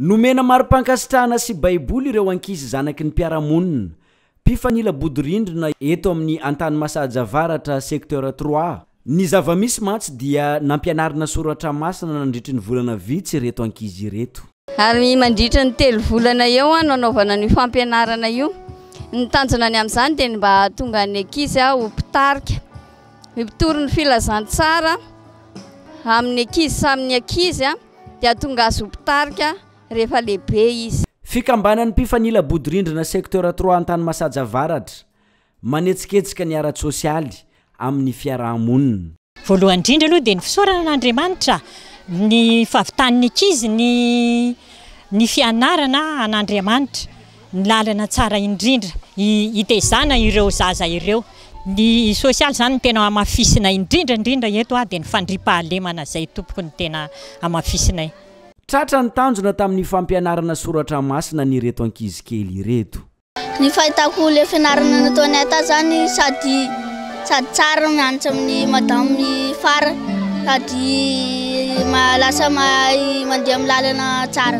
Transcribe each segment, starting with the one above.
Nomena mari-pankasitrahana sy Baiboly ireo ankizy zanaky ny mpiara-monina, mpifanila bodirindrina eto amin'ny Antanimasaja Avaratra, Secteur trois. Ny zava-misy mantsy dia nampianarina soratra masina nandritry ny volana vitsy ireto ankizy ireto. Ary mandritry ny telo volana eo no anaovana an'io fampianarana io. Ny tanjonany amin'izany dia ny mba hahatonga ny ankizy ho mpitarika. Ny mpitory ny filazantsara amin'ny ankizy samy ankizy. dia tonga azy ho mpitarika rehefa lehibe izy. Fikambanan'ny mpifanila bodirindrina Secteur trois Antanimasaja Avaratra manetsiketsika ny ara-tsosialy amin'ny fiaraha-monina. Voalohany indrindra aloha dia ny fisaorana an'Andriamanitra ny fahavitan'ny ankizy ny ny fianarana an'Andriamanitra. ny lalana tsara indrindra hitezana ireo zaza ireo. Ny sosialy izany no tena hamafisina indrindra indrindra eto dia ny fandriampahalemana izay tompoko no tena hamafisinay. Tratra ny tanjona tamin'ny fampianarana soratra masina an'ireto ankizy kely ireto. Ny fahitako ilay fianarana nataon'i Ata zany sady sady tsara mianatra amin'ny madame i Fara sady lasa mahay mandeha amin'ny lalana tsara.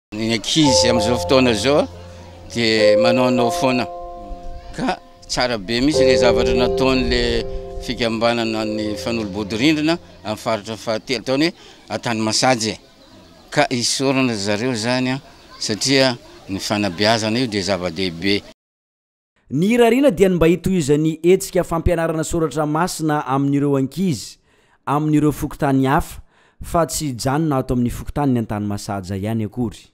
Ny ankizy amin'izao fotoana izao dia manaonao foana ka tsara be mihitsy ilay zavatra nataon'ilay fikambanana ny fanolobodirindrina amin'ny faritra fahatelo tao ny atany masaje ka isorana zareo zany satria ny fanabeazana io dia zava-dehibe. Ny irariana dia ny mba hitohizan'ny hetsika fampianarana soratra masina amin'ireo ankizy amin'ireo fokontany hafa fa tsy hijanona ato amin'ny fokontanin'i Antanimasaja ihany akory.